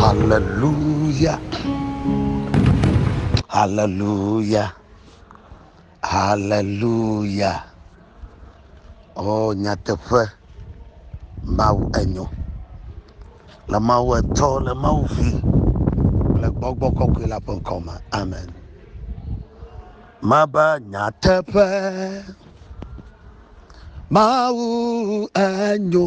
Haleluya, haleluya, haleluya. Oo, nyateƒe, Mawu enyo. Le Mawu Etɔ, le Mawu Vi, le Gbɔgbɔ Kɔkɔe la ƒe ŋkɔ me. Amen. Mebe nyateƒe, Mawu enyo.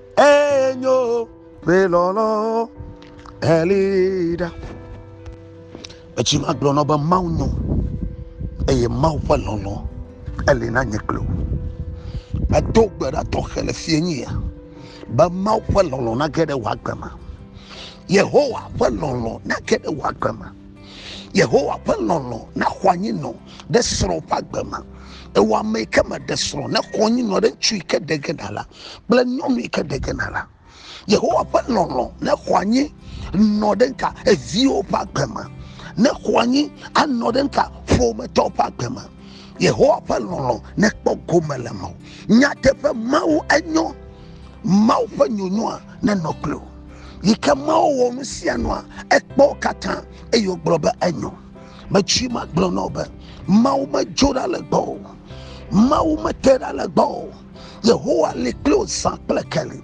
enyo ƒe lɔlɔ eli ɖa etsi ma gblɔ nɔ be mawu nyo eye mawu ƒe lɔlɔ eli na nye kple wò medo gbe ɖa tɔxɛ le fie nye ya be mawu ƒe lɔlɔ nage ɖe wò agbe me yehowa ƒe lɔlɔ nage ɖe wò agbe me yehowa ƒe lɔlɔ naxɔ anyi nɔ ɖe srɔ̃ ƒe agbe me ewɔ ame yi ke meɖe srɔ̃ nexɔ anyi nɔ ɖe ŋutsu yi ke ɖe ge ɖa la kple nyɔnu yi ke ɖe ge na la. Yehowa ƒe lɔlɔ̃ nexɔ anyi nɔ ɖe ŋka eviwo ƒe agbe me, nexɔ anyi anɔ ɖe ŋka ƒometɔwo ƒe agbe me. Yehowa ƒe lɔlɔ̃ nekpɔ gome le me. Nyateƒe Mawu enyo, Mawu ƒe nyonyoa nenɔ kpli wò. Yi ke Mawu wɔ nu sia nua, ekpɔ wo katã eye wògblɔ be enyo. Metsui magblɔ na wò be, Mawu medzo ɖa le gbɔwò o. Mawu mete ɖa le gbɔwò o. Yehowa li kpli wò zã kple keli.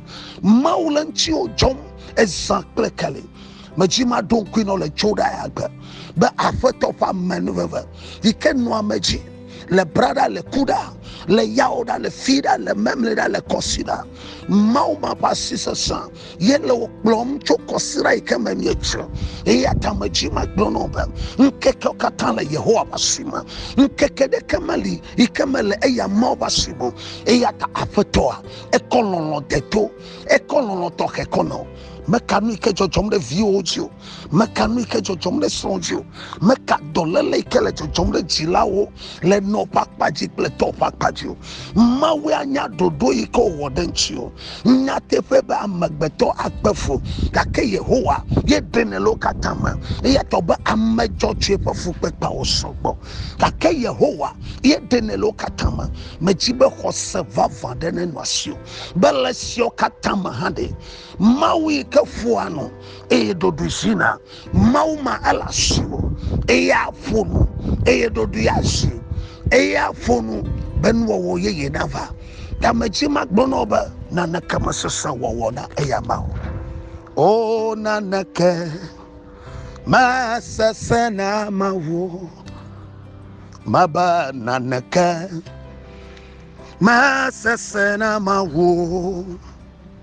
Mawu le ŋutiwò dzɔm ezã kple keli. Medzi maɖo ŋkui nɔ le Jodaya gbe be aƒetɔ ƒe amenuveve yi ke nɔ ame dzi le bra ɖa le ku ɖa le yawo ɖa le fi ɖa le memle ɖa le kɔsi ɖa. Mawu ma ƒe asi sesẽ ye le wò kplɔm tso kɔsiɖa yi ke me mietsrɔ̃ eya ta medzi magblɔ nɔ be ŋkekewo katã le yehowa ƒe asi me ŋkeke ɖeke meli yi ke mele eya mawo ƒe asi me eya ta aƒetɔa ekɔ lɔlɔ de to ekɔ lɔlɔ tɔxɛ kɔ nɔ meka nu yi ke dzɔdzɔm ɖe viwo dzi o meka nu yi ke dzɔdzɔm ɖe srɔ̃ dzi o meka dɔléle yi ke le dzɔdzɔm ɖe dzilawo le nɔ ƒe akpa dzi kple tɔ ƒe akpa dzi o mawue anya ɖoɖo yi ke wòwɔ ɖe ŋuti o nyateƒe be amegbetɔ akpe fu gake yehowa ye ɖenɛ le wo katã me eya tɔ be ame dzɔdzɔe ƒe fukpekpeawo sɔgbɔ gake yehowa ye ɖenɛ le wo katã me medzi be xɔse vavã ɖe nenɔ asi o be le siawo katã me hã ɖe mawu yi ke ƒoa nu eye ɖoɖoe zi na mawu ma ele asiwò eye aƒo nu eye ɖoɖoe azi eye aƒo nu be nuwɔwɔ yeye nava tamedzi magblɔ na wo be naneke mesese wɔwɔ na eya ma o o naneke mesese na mawu mebe naneke mesese na mawu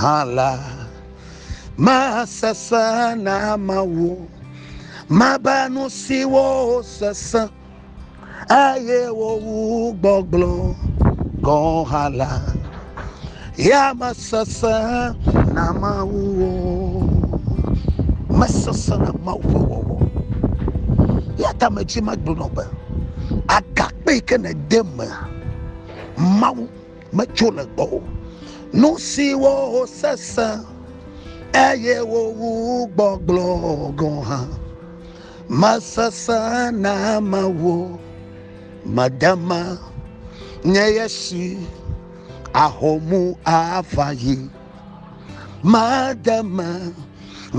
hã la, masesẽ na Mawu, mebe nu siwo sesẽ eye wowu gbɔgblɔ gɔ̃ hã la, ya mesesẽ na Mawu o. Mesesẽ na Mawu ƒe wɔwɔ. Ya ta medzi magblɔ be, agakpe yi ke nède mea, Mawu metso le gbɔwò. Nu siwo wosesẽ eye wowu gbɔgblɔ gɔ̃ hã mesesẽ na ame wo. Mede ma nye ye si ahomu ava yi. Mede ma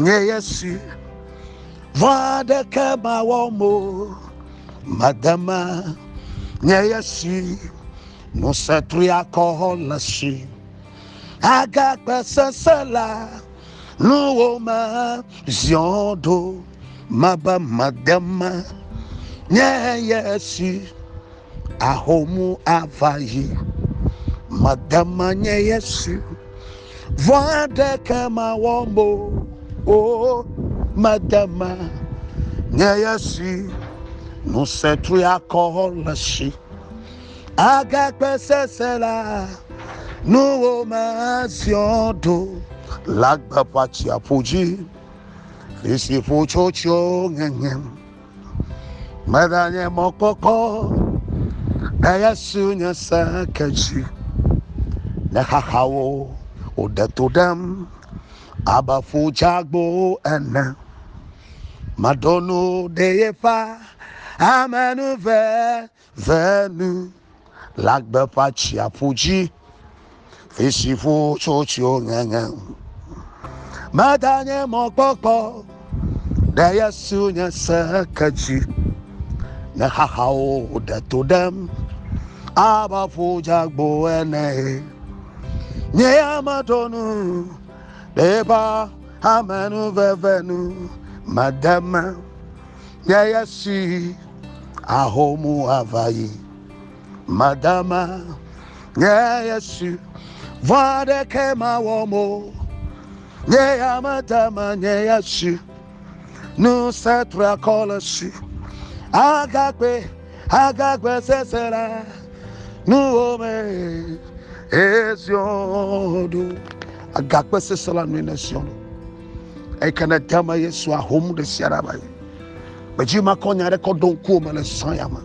nye ye si vɔ̃ aɖeke mawɔm o. Mede ma nye ye si. Ŋusẽ triakɔ le si agakpe sese la nuwo me ziɔ ɖo mebe mede me nye ye si ahomu ava yi. Mede me nye ye si vɔ̃ aɖeke mawɔ mo o. Mede me nye ye si ŋusẽ triakɔ le si. agakpe sese la nuwo me aziɔ ɖo le agbeƒa tsiaƒo dzi fisi ƒo tso tso ŋeŋe medanye mɔkpɔkpɔ eya su nye se ke dzi ne xaxawo wòɖe to ɖem abe ƒu dzagbo ene maɖo nu ɖe yeƒa ame nu ve Ve nu le agbe ƒe atsiaƒu dzi, vi si ƒu tso tsyo ŋeŋe ŋu. Medanye mɔkpɔkpɔ ɖe Yesu nye se ke dzi, ne xaxawo ɖe to ɖem abe aƒu dzeagbo ene. Nye ya meɖo nu ɖe eƒe amenuveve nu mede me. Nye ya si ahomu ava yi. Madama, nye ya si vɔ̃ aɖeke mawɔ mo. Nye ya madama, nye ya si nu se trakɔ le si. Agakpe, agakpe sese la nuwo me. Ezion ɖo. Agakpe sese la nui ne Zion. eyi ke ne de me yesu ahom ɖe sia ɖe me gbedzi ma kɔ nya ɖe kɔ ɖo ŋkuwo me le sɔ ya me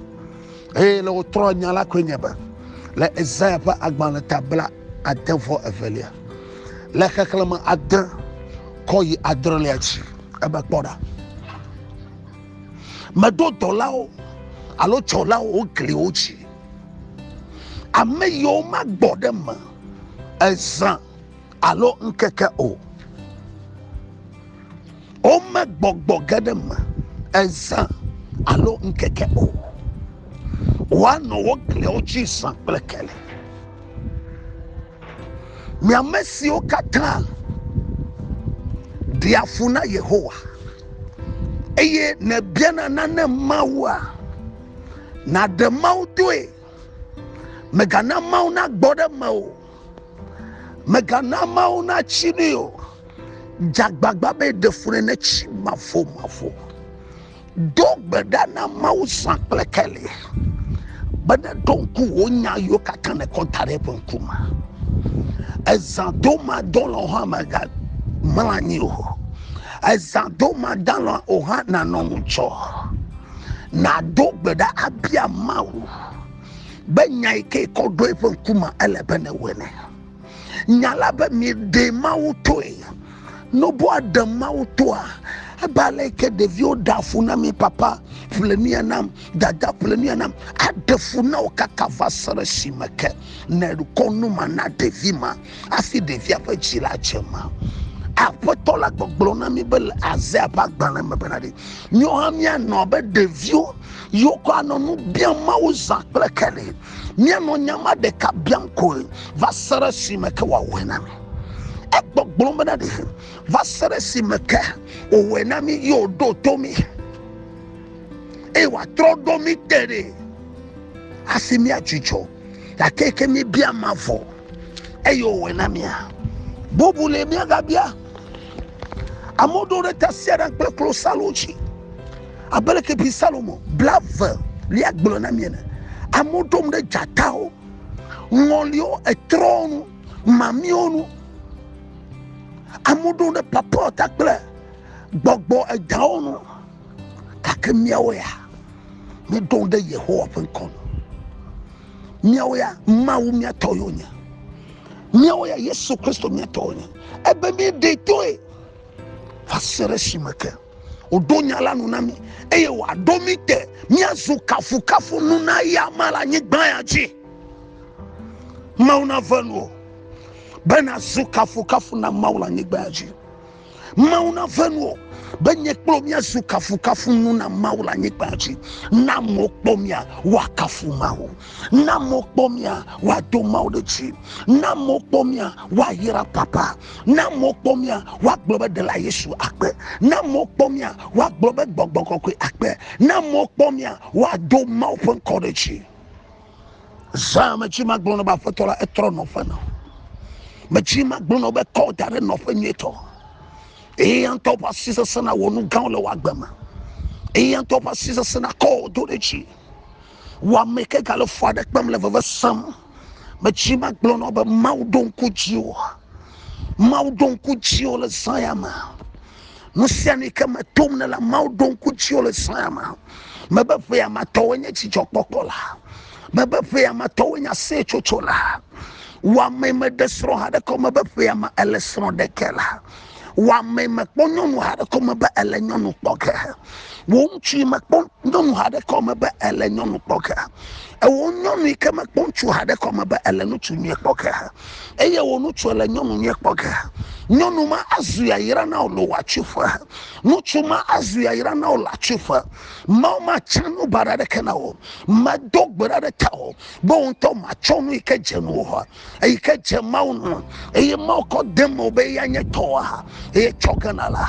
eye le wotrɔ nya la koe nye be le ezaya ƒe agbalẽ ta bla ade vɔ evelia le xexlẽme ade kɔ yi adrelia dzi ebe kpɔ ɖa meɖo dɔlawo alo tsɔlawo wo gliwo dzi ame yiwo magbɔ ɖe me ezã alo ŋkeke o. Wome gbɔgbɔ ge ɖe me ezã alo ŋkeke o. Woanɔ wo gliawo dzi zã kple keli. Mi ame siwo katã ɖia fu na Yehowa eye nèbiana nane Mawua, nàɖe Mawu doe. Mègana Mawu nagbɔ ɖe mewò o. Mègana ameawo natsi nui o. Dze agbagba be ɖe fu ne netsi mavomavo. Do gbe ɖa na Mawu zã kple keli be neɖo ŋku wò nya yiwo katã nèkɔ da ɖe eƒe ŋkume. Ezã do madɔ lɔ hã mègamlɔ anyi o. Ezã do mada lɔ o hã nànɔ ŋudzɔ. Nàdo gbe ɖa abia Mawu. be nya yi ke kɔ ɖo eƒe ŋkume ele be newɔe ne nya la be mieɖe mawu toe noboa ɖe mawu toa ebe ale yi ke ɖeviwo ɖe afu na mi papa ƒle nuya nam dada ƒle nuya nam aɖe fu na wo kaka va se ɖe esime ke nekɔ nu ma na ɖevi ma hafi ɖevia ƒe dzi la dze ma aƒetɔ la gbɔgblɔ na mi be le azea ƒe agbalẽ me bena ɖi míwo hã míanɔ abe ɖeviwo Yewokɔa nɔ nu biam Mawu zã kple keli. Míanɔ nya ma ɖeka biam koe va se ɖe esime ke wòawɔe na mí. Egbɔgblɔm bena ɖe va se ɖe esime ke wòwɔe na mí ye wòɖo to mí eye wòatrɔ ɖo mí te ɖe asi míadzudzɔ gake ke míebia ma vɔ eye wòwɔe na mía. Bubu le míagabia. Amewo ɖo ɖe tasiaɖam kple klosalo dzi. abe leke bi salomo blave lia gblɔ na mi ene amewo ɖom ɖe dzatawo ŋɔliwo etrɔwo nu mamiwo nu amewo ɖom ɖe papɔta kple gbɔgbɔ edawo nu gake miawo ya meɖo ɖe yehowa ƒe ŋkɔ nu miawo ya mawu miatɔ yo nye miawo ya yesu kristo miatɔ yo nye ebe mi ɖe toe va se ɖe esime ke wòɖo nya la nu na mí eye wòaɖo mí te míazu kafukafu nu na ya ma le anyigba ya dzi mawu nave nu o be nazu kafukafu na mawu le anyigba ya dzi mawu nave nu o be nye kple míazu kafukafu nu na mawu le anyigba ya dzi na mo kpɔ mía woakafu mawu na mo kpɔ mia wa do mawo ɖe dzi na mo kpɔ mia wa yira papa na mo kpɔ mia wa gblɔ be dela yesu akpe na mo kpɔ mia wa gblɔ be gbɔgbɔ kɔkɔe akpe na mo kpɔ mia wa do mawo ƒe ŋkɔ ɖe dzi zã me dzi ma gblɔ ne ba fetɔ la etrɔ nɔ ƒe na me dzi ma gblɔ ne be kɔ da ɖe nɔ ƒe nyetɔ eya ŋutɔ ƒe asi sese na wɔ nu gãwo le wɔ agbe me eya ŋutɔ ƒe asi sese na kɔ do ɖe dzi Wɔame ke gale fu aɖe kpem le veve sem. Metsi magblɔ nɔ be Mawu ɖo ŋku dziwò. Mawu ɖo ŋku dziwò le zã ya me. Nu sia nu ke metom ne la, Mawu ɖo ŋku dziwò le zã ya me. Mebe ƒe ya ma tɔwoe nye dzidzɔkpɔkpɔ la. Mebe ƒe ya ma tɔwoe nye aseyetsotso la. Wɔame meɖe srɔ̃ haɖe ke o. Mebe ƒe ya ma ele srɔ̃ ɖeke la. wɔame mekpɔ nyɔnu haɖe ko me be ele nyɔnu kpɔ ge wò ŋutsu yi mekpɔ nyɔnu haɖe ko me be ele nyɔnu kpɔ ge ewò nyɔnu yi ke mekpɔ ŋutsu haɖe ko me be ele ŋutsu nyuie kpɔ ge eye wò ŋutsu ele nyɔnu nyuie kpɔ ge nyɔnu ma azu yayra na wò le wò atsuƒe ŋutsu ma azu yayra na wò le atsuƒe mawu ma tsã nu baɖa ɖeke na wò medo gbe ɖa ɖe ta wò be wò ŋutɔ matsɔ nu yi ke dze nu wò eyi ke dze mawu nu eye mawu kɔ de me be eya nye tɔa eye tsɔ gana la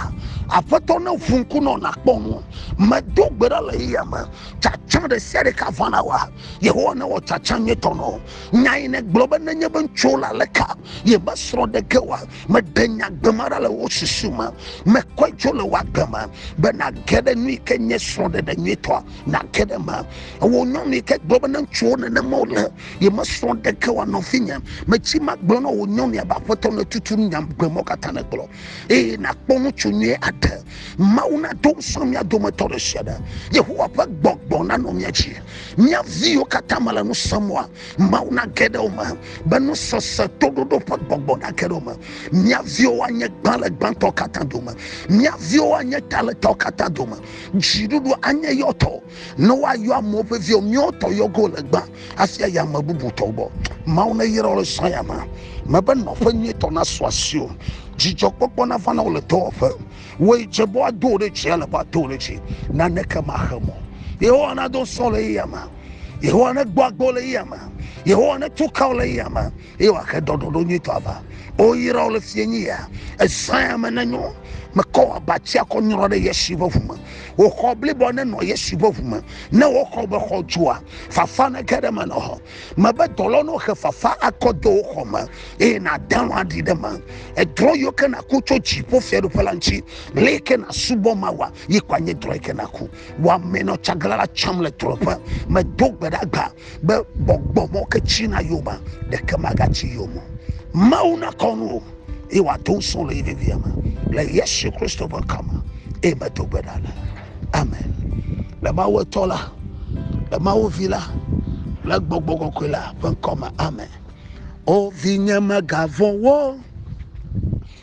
aƒetɔ ne ʋu ŋku nɔ nakpɔ nu medo gbe ɖa le eya me tsatsa ɖe sia ɖe ka vana wa yehowa ne wɔ tsatsa nye tɔ nɔ nya yi ne gblɔ be nenye be ŋutsuwo la le ka ye be srɔ̃ ɖe ge wa meɖe nya gbe ma ɖa le wo susu me mekɔe tso le wa gbe me be nage ɖe nu yi ke nye srɔ̃ ɖeɖe nyuitɔa nage ɖe me wò nyɔnu yi ke gblɔ be ne ŋutsuwo nenema wole ye mesrɔ̃ ɖeke wa nɔvinye metsi magblɔ na wò nyɔnua be aƒetɔ ne tutu nya gbe mɔ katã ne gblɔ eye nakpɔ ŋutsu nyuie aɖe mawu nado ŋusrɔ̃ mía dometɔ ɖe sia ɖe yehowa ƒe gbɔgbɔ nanɔ mía dzi mía viwo katã mele nu semɔa mawu nage ɖe wo me be nusese toɖoɖo ƒe gbɔgbɔ nage ɖe wo me mía viwo anye gbã le gbãtɔ katã dome mía viwo anye ta le tɔ katã dome dziɖuɖu anye yɔtɔ ne woayɔ amewo ƒe viwo míawo tɔ yɔgo le gbã asi ayi ame bubu tɔwo gbɔ mawu neyra wole sɔ ya me mebe nɔƒe nyuitɔ nasu asi o dzidzɔkpɔkpɔ nava na wole dɔwɔƒe woyi dze bɔ ado wo ɖe dzi ale bɔ ado wo ɖe dzi naneke maxe mɔ yehowa nado sɔ le eya me yehowa negbɔ agbo le eya me yehowa netukawo le eya me eye wòaxe ɖɔɖɔɖo nyuitɔ ava. Woyra wo le fie nyi ya, ezãe ame nenyo, mekɔ wò abatsia kɔ nyrɔ ɖe Yesu ƒe ʋu me. Wò xɔ blibɔ nenɔ Yesu ƒe ʋu me. Ne woxɔ be xɔ dzoa, fafa nege ɖe me nɔ hɔ. Mebe dɔlɔ ne woxe fafa akɔ de wò xɔ me, eye nàde alɔ̃ aɖi ɖe eme. Edrɔ̃ yiwo ke nàku tso dziƒo fiaɖuƒe la ŋuti. Ɣe yi ke nàsubɔ Mawua, yi koe anye drɔ̃ yi ke nàku. Wò amee nɔ tsaglalã tsam le drɔ̃eƒe. Medo gbe ɖa gbã. Be gbɔgbɔ mɔ ke tsi na yio ma, ɖeke maga tsi yio mɔ. Mawu na kɔ nu o, eye wòa do ŋusɔn le yi vevia me, le Yesu Kristo ƒe ŋkɔ me, eye me do gbe ɖa le. Amen. Le Mawu etɔ la, le Mawu vi la, le gbɔgbɔ kɔkɔe la ƒe ŋkɔ me. Amen. O vinye, mègavɔ̃ wo,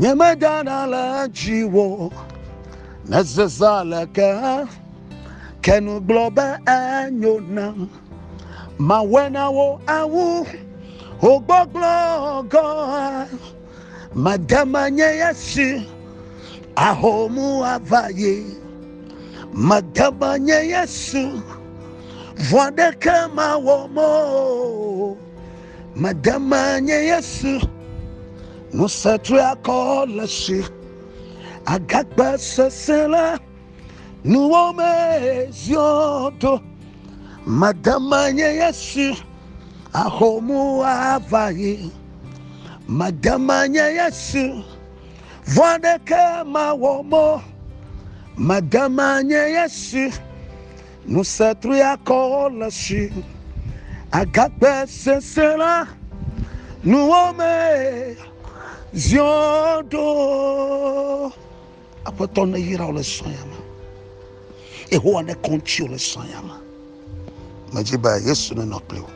Nyemedana le dziwò, nèzezã le ke hã, ke nu gblɔ be enyo nam. Mawɔe na wò awu wò gbɔgblɔ gɔ̃ hã. Mede menye ya si ahomu ava yi, mede menye Yesu, vɔ̃ aɖeke mawɔm o. Mede me nye Yesu, ŋusẽ triakɔ le si, agakpe sesẽ le nuwo me ziɔ do. Mede me nye Yesu, ahomu ava yi. Mede me nye Yesu, vɔ aɖeke mawɔ mo. Mede me nye Yesu. Ŋusẽ triakɔ le si agakpe sese la nuwo me ziɔ ɖo. Aƒetɔ neyra wò le sɔya me. Yehowa nekɔ ŋuti wò le sɔya me. Medzi be Yesu nenɔ kple wò.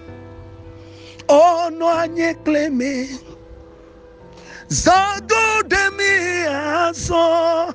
O nɔ anyi kple mi. Zã do ɖe mi azɔ.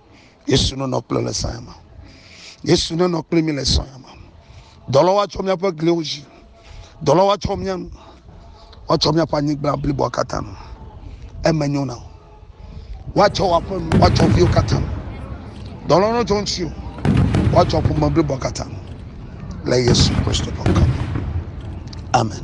Yesu nenɔ kple le sɔ̃ ya me. Yesu nenɔ kple mi le sɔ̃ ya me. Dɔlɔ woatsɔ míaƒe gliwo dzi. Dɔlɔ woatsɔ mía nu. Woatsɔ míaƒe anyigba bliboa katã nu. Eme nyo na wo. Woatsɔ woaƒe nu, woatsɔ viwo katã. Dɔlɔ no tso ŋuti o. Woatsɔ ƒome bliboa katã le Yesu Kristo ƒe ŋkɔ. Amen.